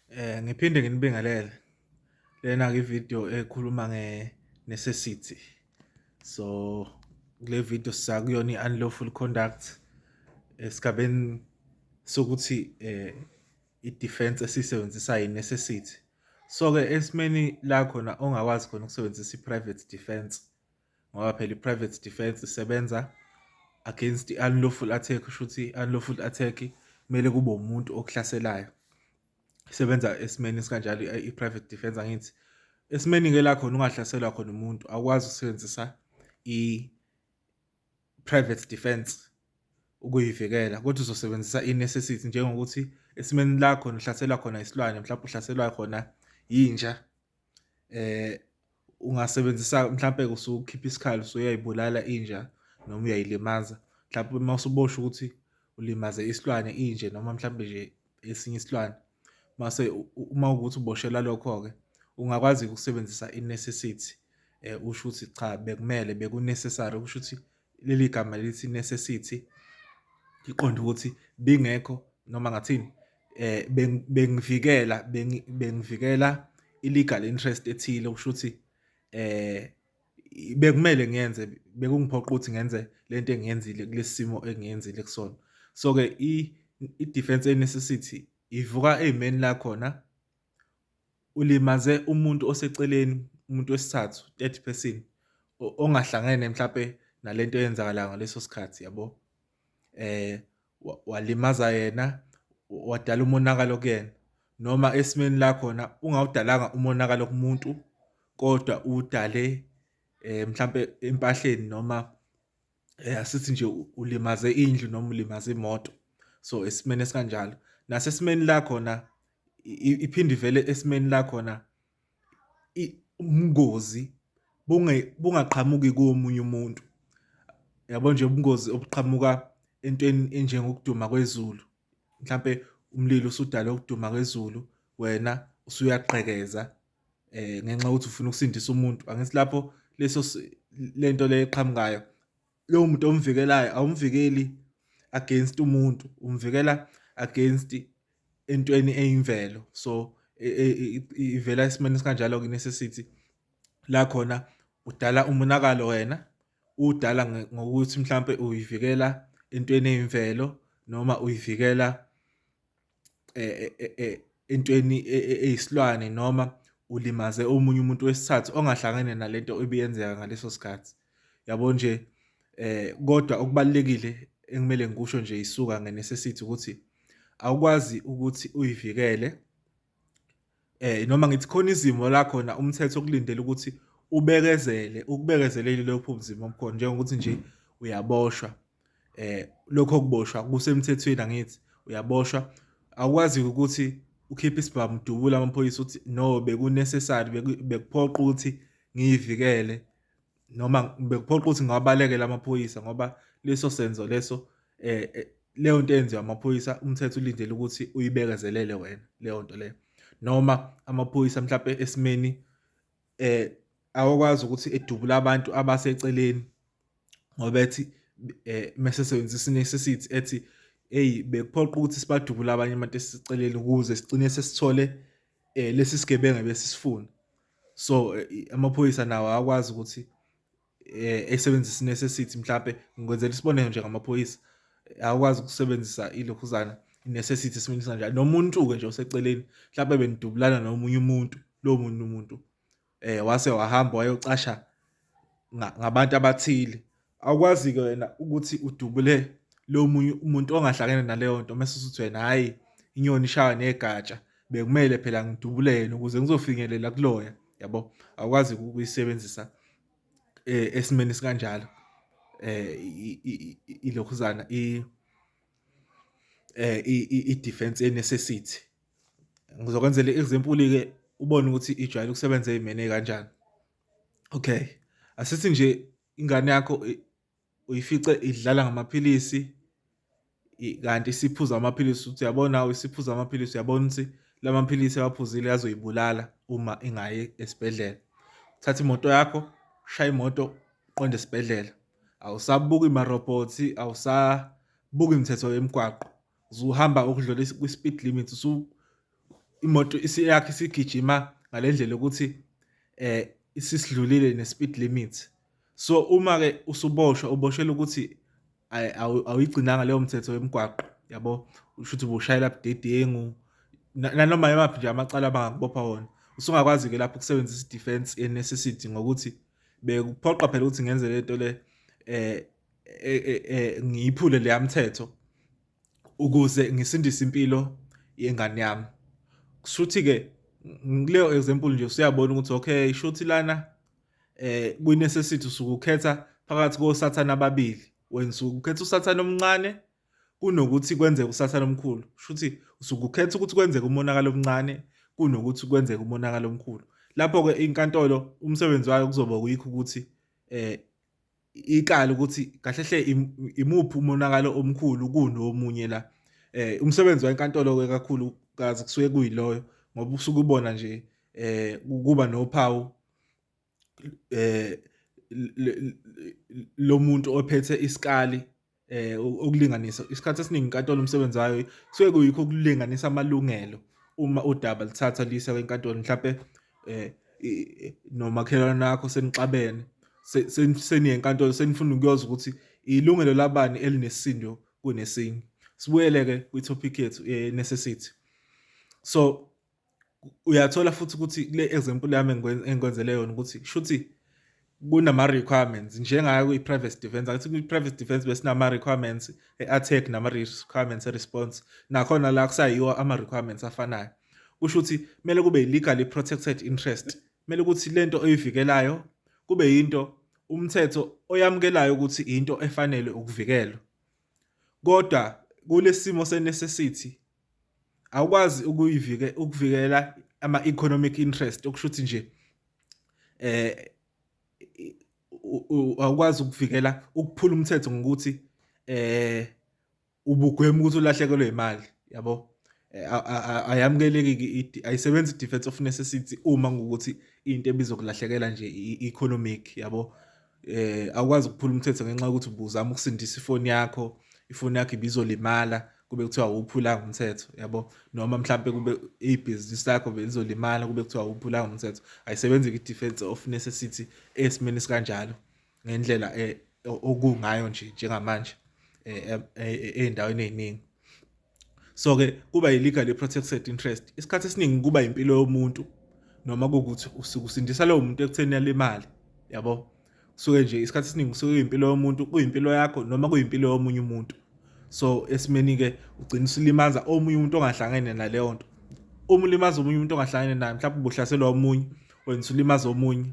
Eh ngiphinde nginibingelele. Lena ke video ekhuluma nge necessity. So kule video sakuyona i-unlawful conduct esigabeni sokuthi eh i-defense esisebenzisayo i-necessity. So-ke esimeni la khona ongakwazi khona ukusebenzisa i-private defense. ngoba phela i-private defense isebenza against i-unlawful attack kusho ukuthi i-unlawful attack kumele kube umuntu okuhlaselayo isebenza esimeni esikanjalo i-private defense angithi esimeni-ke la khona ungahlaselwa khona umuntu awukwazi ukusebenzisa i-private defense ukuyivikela kodwa uzosebenzisa i-necessity njengokuthi esimeni lakho nihlaselwa khona isilwane mhlawumbe uhlaselwa khona yinja Ungasebenzisa mhlampe usukhipha isikhali usuyayibulala inja noma uyayilimaza mhlawumpe uma usubosha ukuthi ulimaze isilwane inje noma mhlawumbe nje esinye isilwane mase uma ukuthi uboshelwa lokho-ke ungakwazi-ke ukusebenzisa i-necessity usho ukuthi cha bekumele beku-necessary ukusho ukuthi. leli gama lithi necessity iqonde ukuthi bingekho noma ngathini eh bengivikela bengivikela illegal interest ethile okusho ukuthi eh bekumele ngiyenze bekungiphoqa ukuthi ngenze lento engiyenzile kulesimo engiyenzile kusona so ke i defense necessity ivuka ezimeni la khona ulimaze umuntu oseceleni umuntu wesithathu third person ongahlangene mhlampe nalento eyenzakalayo ngaleso sikhathi yabo eh walimaza yena wadala umonakalo kuyena noma esimeni la khona ungawudalanga umonakalo kumuntu kodwa udale eh mhlambe empahleni noma eh, asithi nje ulimaze indlu noma ulimaze imoto so esimeni esikanjalo nasesimeni la khona iphinde ivele esimeni la khona ubungozi bungaqhamuki komunye umuntu yabo nje ubungozi obuqhamuka entweni enjengokuduma kwezulu mhlampe umlilo usudala ukuduma kwezulu wena usuyaqhekeza eh ngenxa ukuthi ufuna ukusindisa umuntu angithi lapho leso lento le eqhamukayo lowo muntu omvikelayo awumvikeli against umuntu umvikela against entweni eyimvelo so e, e, e, ivela esimeni sikanjalo ke necessity la khona udala umonakalo wena udala ngokuthi mhlambe uyivikela entweni eyimvelo noma uyivikela entweni eyisilwane noma ulimaze omunye umuntu wesithathu ongahlangene nale nto ebiyenzeka ngaleso sikhathi, yabo nje? Kodwa okubalulekile ekumele ngikusho nje yisuka nge-necessity ukuthi awukwazi ukuthi uyivikele. noma ngithi khona izimo la khona umthetho okulindele ukuthi ubekezele ukubekezeleli lokho buzima obukhona njengokuthi nje uyaboshwa eh lokho kuboshwa kusemthethweni angithi uyaboshwa akwazi ukuthi ukhiphe isibhamu dubula amaphoyisa ukuthi no bekunecessary bekuphoqa ukuthi ngiyivikele noma bekuphoqa ukuthi ngawabalekela amaphoyisa ngoba leso senzo leso eh, eh leyo nto eyenziwa amaphoyisa umthetho ulindele ukuthi uyibekezelele wena leyo nto leyo noma amaphoyisa mhlawumbe esimeni eh awakwazi ukuthi edubule abantu abaseceleni ngoba ethi eh mesesebenzisa necessity ethi hey bekuphoqa ukuthi sibadubule abanye abantu esiceleni ukuze sigcine sesithole eh lesi sigebenga besisifuna so eh, amaphoyisa nawo akwazi ukuthi eh esebenzisa necessity mhlambe ngikwenzela isibonelo nje ngamaphoyisa akwazi ukusebenzisa ilokhuzana necessity siminisa njalo nomuntu ke nje oseceleni mhlambe benidubulana nomunye umuntu lo muntu umuntu eh wase wahamba wayocasha ngabantu abathile awukwazi-ke wena ukuthi udubule lo munye umuntu ongahlangene naleyo nto mese usuthi wena hhayi inyoni ishawa negatsha bekumele phela ngidubule yena ukuze ngizofinyelela kuloya yabo awukwazi ukuyisebenzisa eh, esimeni sikanjalo eh ilokhuzana i eh i defense necessity Ngizokwenzela i-example-ke ubone ukuthi ijwayele ukusebenza ey'meni ey'kanjani. Okay, asithi nje ingane yakho uyifice idlala ngamaphilisi kanti isiphuza amaphilisi ukuthi uyabona awu isiphuza amaphilisi uyabona ukuthi la maphilisi awaphuzile azoyibulala uma ingayi esibhedlela. Thatha imoto yakho, shaya imoto, qonde esibhedlela. Awusabuki marobhothi, awusabuki imithetho yemigwaqo. usuhamba okudlula kwi-speed limit usu imoto yakhe isigijima ngale ndlela ukuthi eh isisidlulile ne-speed limit so uma-ke usuboshwa uboshelwa ukuthi awuyigcinanga leyo mthetho yemgwaqo yabo usho ukuthi ubushayela budedengu nanoma yimaphi nje amacala abangakubopha wona usungakwazi-ke lapho ukusebenzisa i-defense ye-necessity ngokuthi bekuphoqa phela ukuthi ngenze le nto le um e, e, e, ngiyiphule leya mthetho ukuze ngisindise impilo yengane yami kushuthi-ke kuleyo example nje usuyabona ukuthi okay shuthi lana eh kwi-necessity usukukhetha phakathi kosathane ababili wena usukukhetha usathane omncane kunokuthi kwenzeke usathane omkhulu shuthi usukukhetha ukuthi kwenzeke umonakalo omncane kunokuthi kwenzeke umonakalo omkhulu lapho-ke inkantolo umsebenzi wayo kuzoba kuyikho ukuthi eh ikala ukuthi kahle hle imuphi umonakalo omkhulu kunomunye la eh umsebenzi wenkantolo ke kakhulu kazi kusuke kuyiloyo ngoba usuke ubona nje eh kuba nophawu eh lomuntu ophethe isikali eh ukulinganisa isikhathi esiningi inkantolo umsebenzi wayo kusuke kuyikho ukulinganisa amalungelo uma udaba lithatha lisa kwenkantolo mhlawumbe eh nomakhelwane wakho senixabene seniye enkantolo senifuna ukuyoza ukuthi ilungelo labani elinesindo kunesinye sibuyele ke kwi-topic yethu eh, necessity so uyathola futhi ukuthi kule example yami engikwenzele yona ukuthi shuthi kunama-requirements njengayo kwi-private defense angithi kwi-private defense besinama-requirements e-attack nama-requirements e-response nakhona la kusayiwo ama-requirements afanayo kusho ukuthi kumele kube legally protected interest kumele ukuthi le nto oyivikelayo kube yinto umthetho oyamukelayo ukuthi into efanele ukuvikelwa kodwa kulesimo senecessity awukwazi ukuyivike ukuvikela ama economic interest okusho ukuthi nje eh awukwazi ukuvikela ukuphula umthetho ngokuthi eh ubugwema ukuthi ulahlekelwe imali yabo eh, ayamukeleki ayisebenzi defense of necessity uma ngokuthi into ebizokulahlekela nje economic yabo eh awukwazi ukuphula umthetho ngenxa yokuthi ubuzama ukusindisa ifoni yakho ifoni yakho ibizolimala kube kuthiwa awuphulanga umthetho yabo noma mhlampe kube ibhizinisi lakho belizolimala kube kuthiwa awuphulanga umthetho ayisebenzi kwi-defense of necessity esimeni sikanjalo ngendlela eh, okungayo nje njengamanje eh, eh, eh, ey'ndaweni ey'ningi so ke kuba yi-legal i-protected interest isikhathi esiningi kuba impilo yomuntu noma kukuthi usuke usindisa lowo muntu ekutheni yalimali yabo kusuke nje isikhathi esiningi kusuke kuyimpilo yomuntu kuyimpilo yakho noma kuyimpilo yomunye umuntu so esimeni-ke ugcina usulimaza omunye umuntu ongahlangene naleyo nto uma ulimaza omunye umuntu ongahlangene naye mhlawumbe ubuhlaselwa omunye wena usulimaza omunye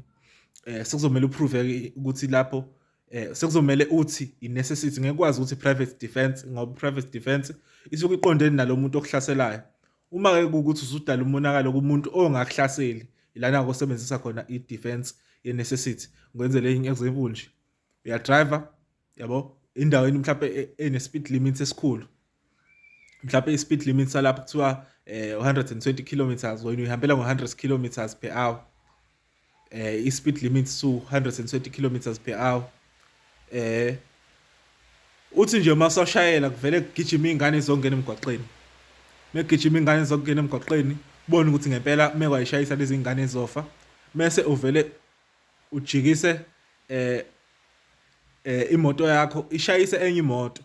um sekuzomele uprove-ke ukuthi lapho eh sekuzomele uthi i necessity ngeke kwazi ukuthi private defense ngoba private defense isuke iqondene nalomuntu okuhlaselayo uma ke ukuthi usudala umonakalo kumuntu ongakuhlaseli ilana kosebenzisa khona i defense ye necessity ngwenzele enye example nje uya driver yabo indaweni mhlawumbe e, e, ene speed limit esikhulu mhlawumbe i-speed limit salapho kuthiwa eh 120 kilometers wena uyihambela ngo-100 kilometers per hour eh i-speed limit su 120 kilometers per hour eh uthi nje uma usashayela kuvele kugijima iy'ngane zongena emgwaqeni megijima ingane zokungena emgwaqeni ubone ukuthi ngempela uma kwayishayisa lezi ngane ezofa mese uvele ujikise eh eh imoto yakho ishayise enye imoto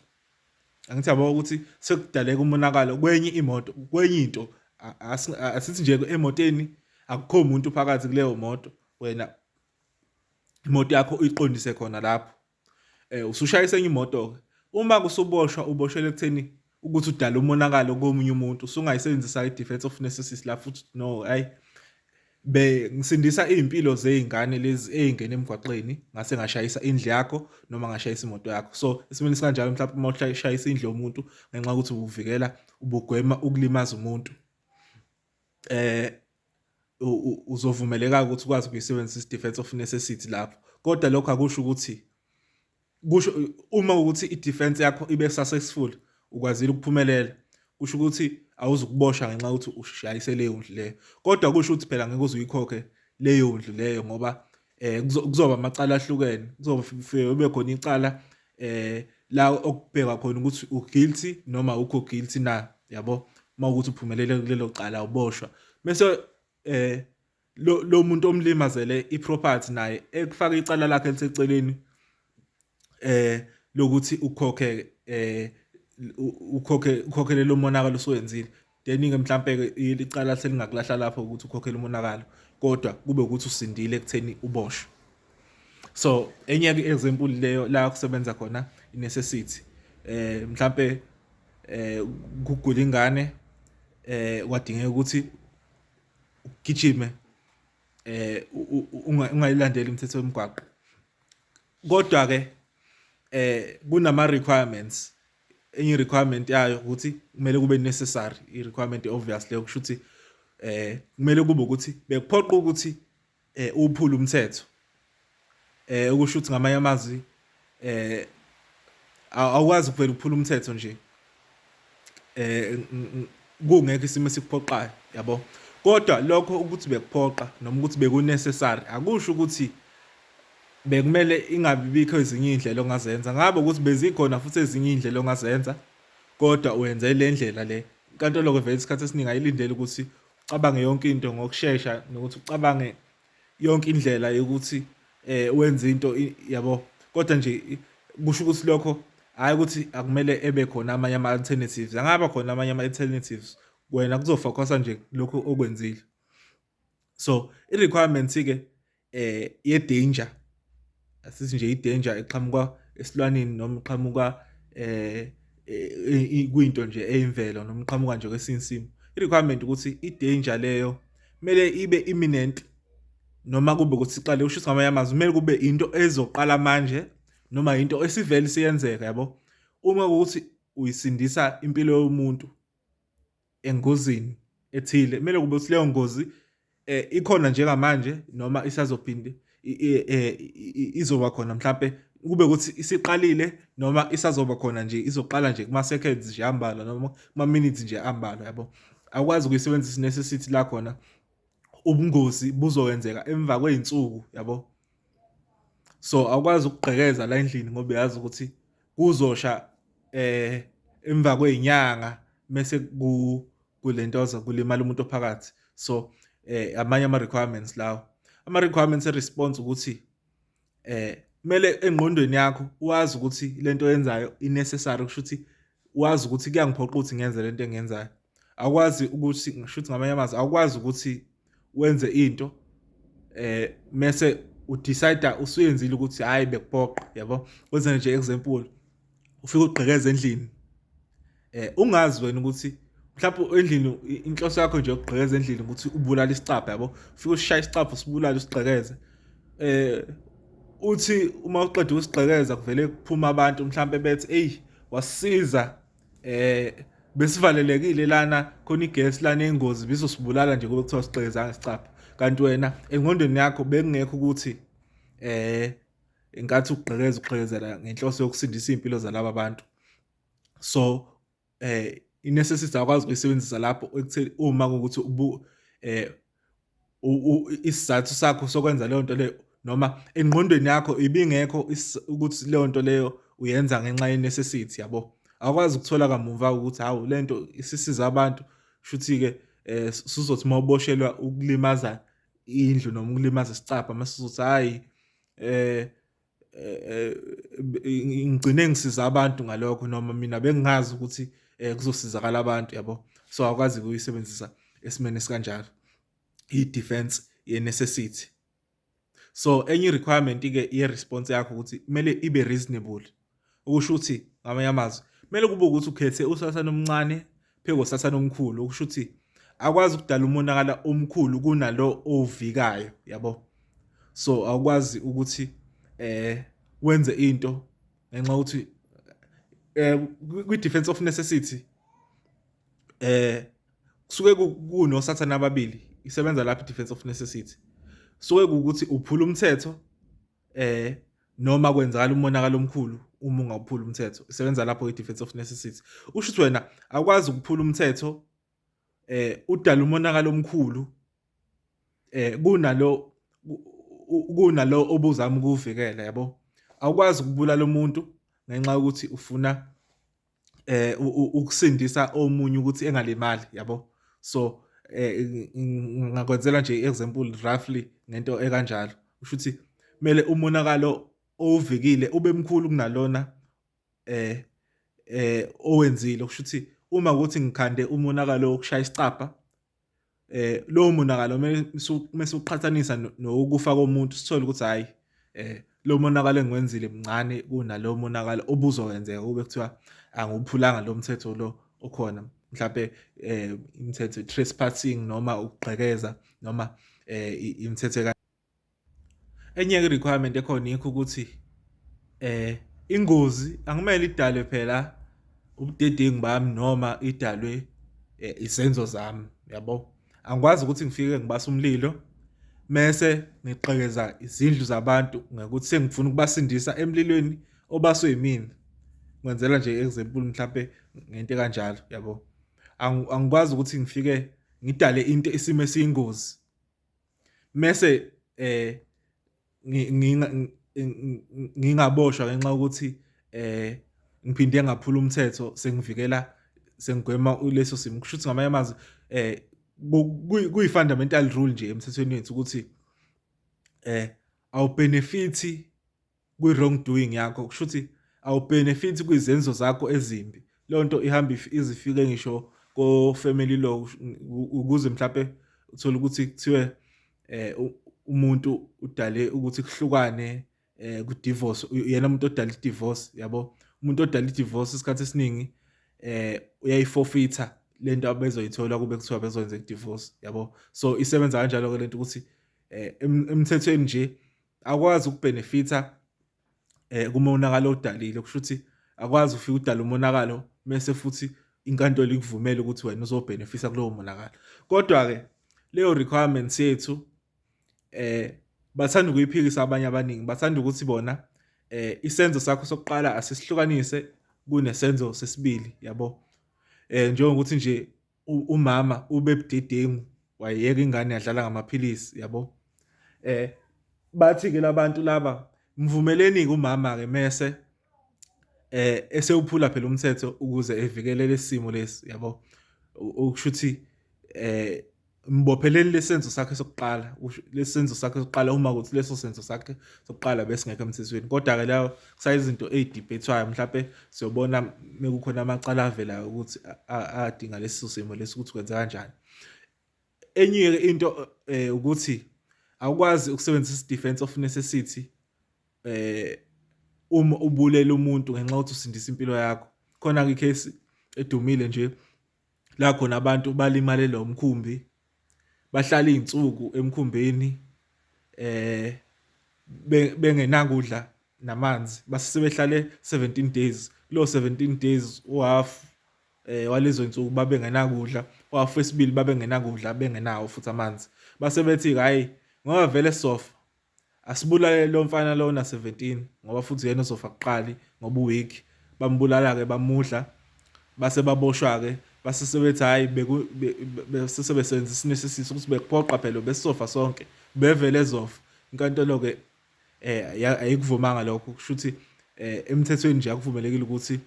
angithi yabo ukuthi sekudaleka umonakalo kwenye imoto kwenye into asithi nje emoteni akukho umuntu phakathi kuleyo moto wena imoto yakho uyiqondise khona lapho eh usushayisa enye imoto uma kusuboshwa uboshele ekutheni ukuthi udala umonakalo komunye umuntu usungayisebenzisa i-defense of necessity la futhi no hayi be ngisindisa izimpilo zeingane lezi ezingena emgwaqeni ngase ngashayisa indle yakho noma ngashayisa imoto yakho so isimini sikanjalo mhlawumbe uma ushayisa indle yomuntu ngenxa ukuthi ubuvikela ubugwema ukulimaza umuntu eh uzovumeleka ukuthi ukwazi ukuyisebenzisa i-defense of necessity lapho kodwa lokho akusho ukuthi kusho uma ukuthi i-defense yakho ibe successful ukwazile ukuphumelela kusho ukuthi awuzukuboshwa ngenxa ukuthi ushayise leyo ndlu leyo kodwa kusho ukuthi phela ngeke uze uyikhokhe leyo ndlu leyo ngoba eh kuzoba amacala ahlukene kuzoba kube khona icala eh la okubheka khona ukuthi u guilty noma ukho guilty na yabo uma ukuthi uphumelele kulelo cala uboshwa bese eh lo lo muntu omlimazele iproperty naye ekufaka icala lakhe eliseceleni eh lokuthi ukhokhe eh ukhokhe ukhokhele lo monakalo osowenzile then ke mhlambe ke icala selingakulahla lapho ukuthi ukhokhele umonakalo kodwa kube ukuthi usindile ekutheni uboshwe so enye ke example leyo la kusebenza khona necessity eh mhlambe eh kugula ingane eh kwadingeka ukuthi ugijime eh ungayilandeli imithetho yomgwaqo kodwa ke eh kunama requirements enye requirement yayo ukuthi kumele kube necessary i requirement obviously okusho ukuthi eh kumele kube ukuthi bekuphoqa ukuthi eh uphula umthetho eh okusho ukuthi ngamanye amazwi eh awukwazi kuvela ukuphula umthetho nje eh kungekho isimo esikuphoqayo yabo kodwa lokho ukuthi bekuphoqa noma ukuthi bekunecessary akusho ukuthi bekumele ingabi bikho ezinye indlela ongazenza ngabe ukuthi bezikhona futhi ezinye indlela ongazenza kodwa uyenze le ndlela le inkantolo ke vele isikhathi esiningi ayilindele ukuthi ucabange yonke into ngokushesha nokuthi ucabange yonke indlela yokuthi eh wenze into yabo kodwa nje kusho ukuthi lokho hayi ukuthi akumele ebe khona amanye ama alternatives angaba khona amanye ama alternatives wena kuzofocusa nje lokho okwenzile so i requirements ke eh ye danger asithi nje i danger eqhamuka esilwaneni noma iqhamuka eh e, kwinto nje eyimvelo noma iqhamuka nje kwesinye isimo i requirement ukuthi i danger leyo kumele ibe imminent noma kube ukuthi siqale usho ngamanye amazwi kumele kube into ezoqala manje noma into esivele siyenzeka yabo uma ukuthi uyisindisa impilo yomuntu engozini ethile kumele kube ukuthi leyo ngozi eh ikhona njengamanje noma isazophinde eh, izoba khona mhlambe kube ukuthi isiqalile noma isazoba khona nje izoqala nje kuma seconds nje ambalwa noma kuma minutes nje ambalwa yabo akwazi ukuyisebenzisa necessity la khona ubungozi buzokwenzeka emva kwey'nsuku yabo so awukwazi ukugqekeza la endlini ngoba uyazi ukuthi kuzosha eh emva kwezinyanga mese ku kulentoza kulimala umuntu ophakathi so eh amanye ama requirements lawo ama requirements e response ukuthi eh kumele engqondweni yakho wazi ukuthi lento oyenzayo i necessary kusho ukuthi wazi ukuthi kuyangiphoqa ukuthi ngenze lento engiyenzayo akwazi ukuthi ngisho ukuthi ngamanye amazwi akwazi ukuthi wenze into eh mese udecide usuyenzile ukuthi hayi bekuphoqa yabo kwenze nje example ufike ugqekeza endlini eh ungazi wena ukuthi mhlawumbe endlini inhloso yakho nje yokugqekeza endlini ukuthi ubulale isicabha yabo ufike ushaya isicabha usibulale usigqekeze eh uthi uma uqeda usigqekeza kuvele kuphuma abantu mhlambe bethi hey wasiza eh besivalelekile lana khona igesi lana engozi bizosibulala nje kube kuthiwa sigqekeza ngesicapha kanti wena engqondweni yakho bekungekho ukuthi eh ingathi ukugqekeza ugqekezela ngenhloso yokusindisa impilo zalabo bantu so eh i-necessity akwazi ukuyisebenzisa lapho ekutheni uma ukuthi ubu eh isizathu sakho sokwenza leyo nto leyo noma engqondweni yakho ibingekho ukuthi leyo nto leyo uyenza ngenxa ye-necessity yabo awukwazi ukuthola kamumva ukuthi hawu le nto isisiza abantu shuthi-ke um eh, suzothi uma uboshelwa ukulimaza indlu noma ukulimaza isicabha uma suzothi hhayi um eh, eh, eh, ngigcine ngisiza abantu ngalokho noma mina bengingazi ukuthi eh, kuzosizakala abantu yabo so akwazi kuyisebenzisa esimene sikanjalo i-defense ye-necessity so enye i-requirement-ke ye-response yakho ukuthi kumele ibe reasonable okusho ukuthi ngamanye amazwi kumele kube ukuthi ukhethe usasana omncane phezu kosasana omkhulu okusho ukuthi akwazi ukudala umonakala omkhulu kunalo owuvikayo yabo so awukwazi ukuthi eh wenze into ngenxa ukuthi eh kwi defense of necessity eh kusuke kunosathana ababili isebenza lapha i defense of necessity kusuke ukuthi uphula umthetho eh noma kwenzakala umonakalo omkhulu uma ungawuphula umthetho isebenza lapho i-defense of necessity usho ukuthi wena akwazi ukuphula umthetho eh udala umonakalo omkhulu eh kunalo kunalo obuzama ukuvikela yabo awukwazi ukubulala umuntu ngenxa yokuthi ufuna eh ukusindisa omunye ukuthi engalimali yabo so eh ngakwenzela nje example roughly ngento ekanjalo usho ukuthi kumele umonakalo owuvikile ube mkhulu kunalona eh eh owenzile kusho ukuthi uma ukuthi ngikhande umonakalo wokushaya isicapha eh lowo monakalo mase uqhathanisa nokufa komuntu sithole ukuthi hayi eh lo monakalo engiwenzile mncane kunalowo monakalo obuzowenzeka kube kuthiwa angiwuphulanga lo mthetho lo okhona mhlawumbe eh imithetho trespassing noma ukugqekeza noma eh imithetho enye ke requirement ekhona yikho ukuthi eh ingozi akumele idalwe phela ubudedengu bami noma idalwe eh, isenzo zami yabo angikwazi ukuthi ngifike ngibasa umlilo mese ngiqhekeza izindlu zabantu ngokuthi sengifuna ukubasindisa emlilweni obaswe yimina ngenzela nje example mhlambe ngento kanjalo yabo angikwazi ukuthi ngifike ngidale into isimo esiyingozi mese eh ngingaboshwa ngenxa ukuthi eh ngiphinde ngaphula umthetho sengivikela sengigwema leso simo kusho ukuthi ngamanye amazwi eh kuyi-fundamental rule nje emthethweni wethu ukuthi eh awubenefithi kwi-wrong doing yakho kusho ukuthi awubhenefithi kwizenzo zakho ezimbi leyo nto ihamba izifike ngisho ko-family law ukuze mhlawumpe uthole ukuthi kuthiwe um umuntu udale ukuthi kuhlukane um kudivorce yena umuntu odala idivorce yabo umuntu odala idivorce isikhathi esiningi um uyayifofitha le nto abezoyithola kube kuthiwa bezoyenza idivorce yabo so isebenza kanjalo-ke le nto ukuthi um emthethweni nje akwazi ukubhenefitha eh kumonakalo odalile kusho ukuthi akwazi ufika udala umonakalo mese futhi inkantolo ikuvumela ukuthi wena uzobhenefisa kulowo monakalo kodwa ke leyo requirements yethu eh bathanda ukuyiphikisa abanye abaningi bathanda ukuthi bona eh isenzo sakho sokuqala asisihlukanise kunesenzo sesibili yabo eh njengokuthi nje umama ube budedengu wayeka ingane yadlala ngamaphilisi yabo eh bathi ke labantu laba mvumeleni ke umama ke mese eh esewuphula phela umthetho ukuze evikele lesimo lesi yabo ukushuthi eh mbopheleli lesenzo sakhe sokuqala lesenzo sakhe sokuqala uma ukuthi leso senzo sakhe sokuqala besingekho emthethweni kodwa ke lawo kusayizinto ey'dibhethwayo mhlawumpe siyobona mekukhona amacala avelayo ukuthi adinga lesi simo lesi ukuthi kwenza kanjani enye-ke into um ukuthi awukwazi ukusebenzisa isidefense of necessity um uma ubulela umuntu ngenxa yokuthi usindisa impilo yakho khona-ke ikhesi edumile nje la khona abantu balimalela umkhumbi, bahlala iy'nsuku emkhumbini bengenakudla namanzi, base sebehlale seventeen days, kulo seventeen days uhhafu walezo y'nsuku babengenakudla, uhhafu wesibili babengenakudla bengenawo futhi amanzi. Base bethi-ke hhayi ngoba vele sofa, Asibulale lo mfana lo na 17 ngoba futhi uyena ozofa kuqali ngoba uweak bambulala ke bamudla base baboshwa ke base sebethi hayi beku bese sebesenza isinisisiso ukuthi bekuphoqa phela besisofa sonke bevele ezofa inkantolo ke eh ayikuvumanga lokho kusho ukuthi eh emthethweni nje akuvumelekile ukuthi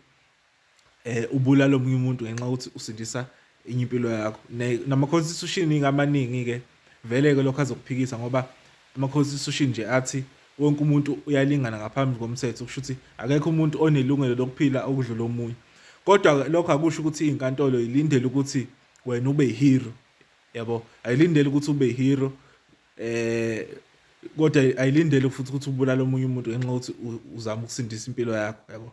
eh ubulala omunye umuntu ngenxa ukuthi usindisa enye impilo yakho nama constitution ingamaningi ke vele ke lokho azokuphikisa ngoba ama constitution nje athi wonke umuntu uyalingana ngaphambi komthetho kusho ukuthi akekho umuntu onelungelo lokuphila okudlula omunye kodwa lokho akusho ukuthi inkantolo ilindele ukuthi wena ube hero yabo ayilindele ukuthi ube hero eh kodwa ayilindele futhi ukuthi ubulala omunye umuntu ngenxa ukuthi uzama ukusindisa impilo yakho yabo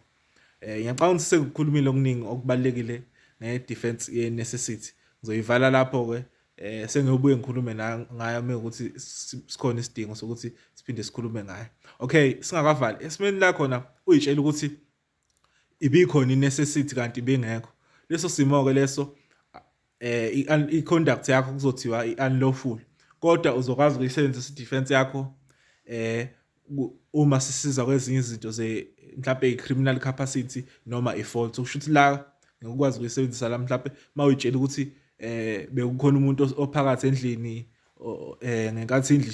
Eh ngiyacabanga ukuthi sekukhulumile okuningi okubalekile ngedefense yeNecessity. Ngizoyivala lapho ke eh sengiyobuye ngikhulume ngayo mekuthi sikhona isidingo sokuthi siphinde sikhulume ngayo. Okay, singakavali esimeni la khona uyitshela ukuthi ibikhona iNecessity kanti bingekho. Leso simo ke leso eh i-conduct yakho kuzothiwa i-unlawful kodwa uzokwazi ukuyisebenzisa i-defense yakho eh uma sisiza kwezinye izinto ze mhlawumbe i-criminal capacity noma i-fault so kusho ukuthi la ngikwazi ukuyisebenzisa la mhlawumbe uma uyitshela ukuthi eh bekukhona umuntu ophakathi endlini eh ngenkathi indlu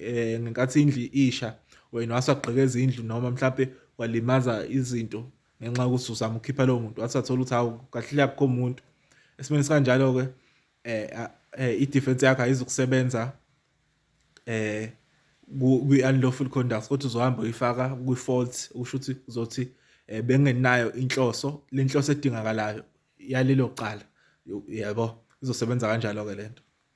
eh ngenkathi indlu isha wena wasagqekeza indlu noma mhlawumbe walimaza izinto ngenxa yokuthi uzama ukukhipha lowo muntu wathi athola ukuthi hawu kahle akukho muntu esimeni sikanjalo-ke um i-defense yakho ayizukusebenza um kwi-unlawful conduct kodwa uzohamba uyifaka kwi-fault usho ukuthi uzothi um bengenayo inhloso le nhloso edingakalayo yalelo cala yabo izosebenza kanjalo-ke le nto